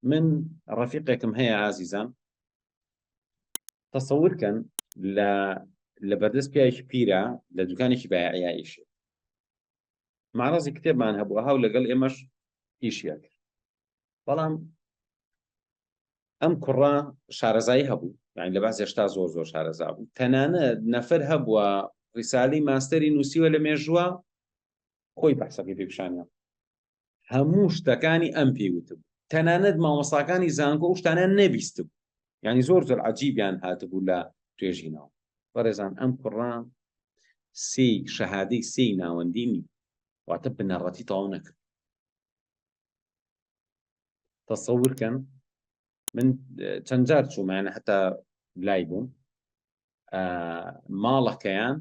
من ڕەفیقێکم هەیە ئازیزان تەسەورکەن لە لە بەردەست پیاوێکی پیرە لە دوکانێکی بایعیا ئیش مارازی کتێبمان هەبوو هاو لەگەڵ ئێمەش ئیشیەک بەڵام ئەم کوڕە شارەزایی هەبوو یعنی لە باس هێشتا زۆر زۆر شارەزا بوو تەنانە نەفەر هەبووە ڕیسالی ماستەری نووسیوە لە مێژووە خۆی بەحسەکەی پێپشانە هەموو شتەکانی ئەم پێی وتبوو تەنانەت مامۆستاکانی زانکۆ ئەو شتانیان نەبیستبوو یعنی زۆر زۆر عەجیبیان هاتبوو لە توێژینەوە بەڕێزان ئەم کوڕە سێ شەهادەی سێ ناوەندی نی واتە بنەڕەتی تەواو نەکرد تەسەور کەن من چەند جار چوومانە هەتا لای بووم ماڵەکەیان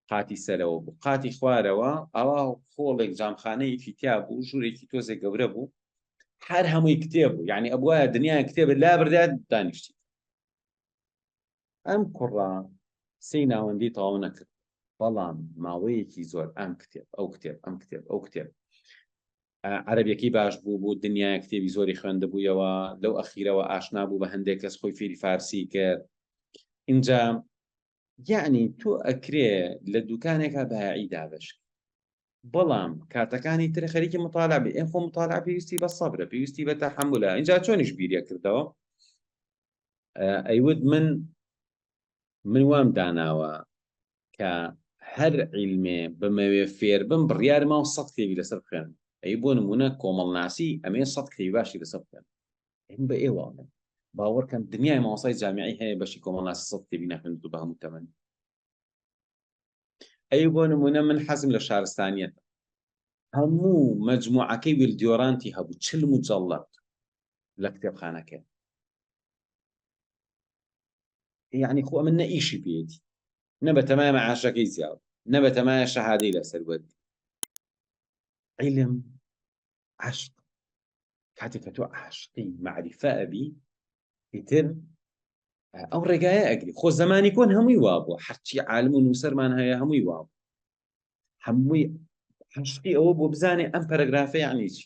قاتی سەرەوە بوو قاتی خوارەوە ئاوا خۆڵێک جامخانەیەکی تیا بوو ژوورێکی تۆزێ گەورە بوو هەر هەمووی کتێب بوو یعنی ئەبواە دنیای کتێب لا بردات دانیشتی ئەم کوڕا سی ناوەندی تەواو نەکرد بەڵام ماوەیەکی زۆر ئەم کتێب ئەو کتێب ئەم کتێب ئەو کتێب عربیەکەی باش بوو بوو دنیای کتێبی زۆری خوێندبوویەوە لەو ئەخیرەوە ئاشنا بوو بە هەندێک کەس خۆی فێری فارسی کرد اینجا یعنی تۆ ئەکرێ لە دوکانێکا بایعی دابش بەڵام کاتەکانی تر خەریکی مطالعبی ئێ خۆ مطالع پێویستی بە سەبرە پێویستی بە تەحملە اینجا چۆنیش بیرە کردەوە ئەیوت من من وام داناوە کە هەر عیلمێ بمەوێ فێر بم بڕیار ماوە سە کتێبی لەسەر بخێن ئەی بۆ نمونە کۆمەڵناسی ئەمێ سە کتێبی باشی لەسەر بکەن بە ئێوە باوەڕکەن دنیای مامۆسای جامیعی هەیە بەشی کۆمەڵناسی سەد کتێبی ناخوێنێت و بە هەموو تەمەن ئەی بۆ نمونە من حەزم لە شارستانیت هەموو مجموعەکەی ویلدیۆرانتی هەبوو چل مجلڵەت لە کتێبخانەکە یعنی خۆ من نە ئیشی پێێتی نە بە تەمای مەعاشەکەی زیاو نە بە تەمایە شەهادەی لەسەر وەرد عیلم عشق کاتێک کە تۆ عاشقی معریفە ئەبی ئیتر ئەو ڕێگایە ئەگری خۆ زمانی کۆن هەمووی وابوو هەرچی عالم و نووسەرمان هەیە هەمووی واب هەمووی عشقی ئەوە بۆ بزانێ ئەم پەرەگرافە یعنی چی